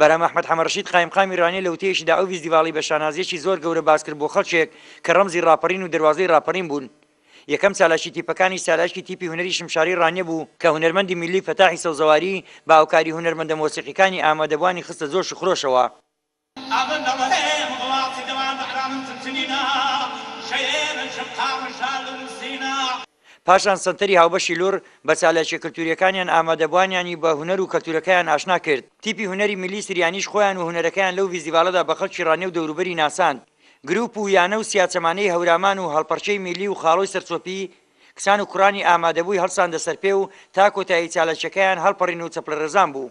بەرام ئەحمەد حەمەڕەشید قایمقامی رانیە لە وتەیەکیدا ئەو بیست دیواڵەی بە شانازییەکی زۆر گەورە باس کرد بۆ خەڵکێک کە رەمزی راپەڕین و دەروازەی راپەڕین بوون یەکەم چالاکی تیپەکانیش چالاکی تیپی هونەری شمشاریی رانیە بوو کە هونەرمەندی میللی فەتاحی سەوزەواری بە هاوکاری هونەرمەندە مۆسیقیکانی ئامادەبووانی خستە جۆش و خرۆشەوە. پاشان سەنتەری هاوبەشی لوڕ بە چالاکیە کەلتوریەکانیان ئامادەبوانیانی بە هونەر و کەلتورەکەیان ئاشنا کرد، تیپی هونەری میللی سریانیش خۆیان و هونەرەکەیان لەو ڤیستیڤالەدا بە خەڵکی ڕانیە و دەوروبەری ناساند. گروپ و یانە و سیاچەمانەی هەورامان و هەڵپەڕکێی میللی و خاڵۆی سەرچۆپی کچان و کوڕانی ئامادەبوی هەڵساندە سەرپێ و تا کۆتایی چالاکیەکەیان هەڵپەڕین و چەپڵەرێزان بوو.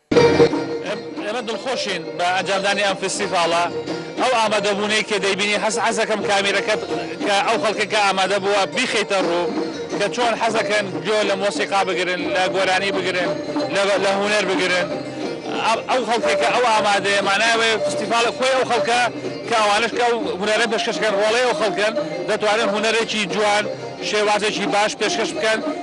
ئێمە دڵخۆشین بە ئەنجامدانی ئەم فستیڤاڵە ئەو ئامادەبوونەی کە دەیبینی هەست حەزەکەم کامیرەکەت کە ئەو خەڵکەکە ئامادە بووە بیخیتە ڕوو کە چۆن حەزەکەن گوێ لە مۆسیقا بگرن لە گۆرانی بگرن لە هوەر بگرن ئەو خەڵکێکە ئەو ئامادەیە مانایەوە فستیڤالە خۆی ئەو خەڵکە کە ئەوانش کە هوەرە پێشکەشکەن ڕۆڵەی ئەو خەڵکەن دەتوانن هوەرێکی جوان شێوازێکی باش پێشکەش بکەن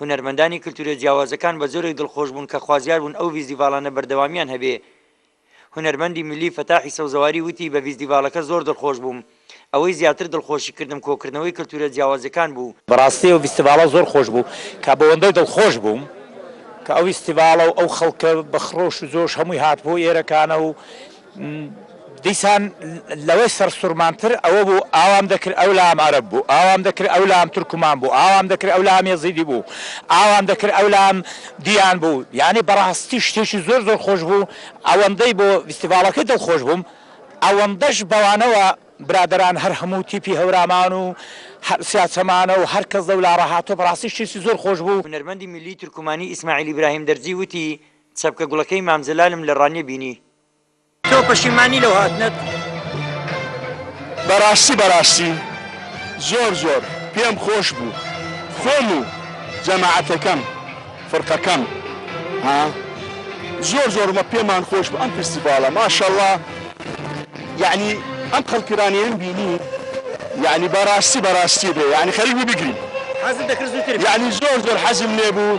هونەرمەندانی کلتورە جیاوازەکان بە جۆرێک دڵخۆش بوون کە خوازیار بوون ئەو ڤیزدیڤاڵانە بەردەوامیان هەبێ. هونەرمەندی میللی فەتاحی سەوزەواری وتی بە ڤیزدیڤاڵەکە زۆر دڵخۆش بووم. ئەوەی زیاتر دڵخۆشی کردم کۆکردنەوەی کلتورە جیاوازەکان بوو. بەڕاستی ئەو ڤیستیڤاڵە زۆر خۆش بوو کە بەوەندەی دڵخۆش بووم کە ئەو ڤیستیڤاڵە و ئەو خەڵکە بە خڕۆش و جۆش هەمووی هاتبوو ئێرەکانە و دیسان لەوەی سەرسوڕمانتر ئەوە بوو ئاوام دەکرد ئەو لام عەرەب بوو، ئاوام دەکرد ئەو لام تورکمان بوو، ئاوام دەکرد ئەو لام یەزیدی بوو، ئاوام دەکرد ئەو لام دیان بوو، یانی بەڕاستی شتێکی زۆر زۆر خۆش بوو، ئەوەندەی بۆ ڤیستیڤاڵەکەی دڵخۆش بووم، ئەوەندەش بەوانەوە برادەران هەر هەموو تیپی هەورامان و سیاچەمانە و هەر کەس لەو لاڕا هاتووە، بەڕاستی شتێکی زۆر خۆش بوو. هونەرمەندی میللی تورکمانی ئیسماعیل ئیبراهیم دەرزی وتی، چەپکە گوڵەکەی مام جەلالم لە ڕانیە بینی، تۆ پەشیمانی لەو هاتنەت؟ بەڕاستی بەڕاستی زۆر زۆر پێم خۆش بوو خۆم و جەماعەتەکەم فرقەکەم ها زۆر زۆر مە پێمان خۆش بوو ئەم فستیڤاڵە ماشەڵا یعنی ئەم خەڵکرانیان بینی یعنی بەڕاستی بەڕاستی بێ یعنی خەریک بوو بگریم حەزت دەکرد زووتر بێ. یعنی زۆر زۆر حەزم لێ بوو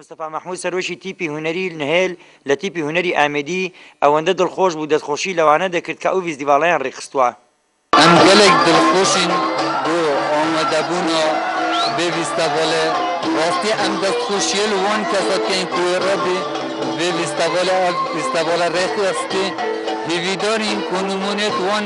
مستەفا مەحمود سەرۆکی تیپی هونەری نهێل لە تیپی هونەری ئامێدی ئەوەندە دڵخۆش بوو دەستخۆشی لەوانە دەکرد کە ئەو ڤیستیڤاڵەیان ڕێکخستووە. ئەم گەلێک دڵخۆشین بۆ ئامادەبوون بێ ڤیستاڤالێ، ڕاستی ئەم دەستخۆشییە لە وان کەسە بکەین کوێڕە بێ ڤیستاڤالێ ئەڤ ڤیستاڤاڵە ڕێکخستی، هیڤیدارین کۆ نموونەیەک وان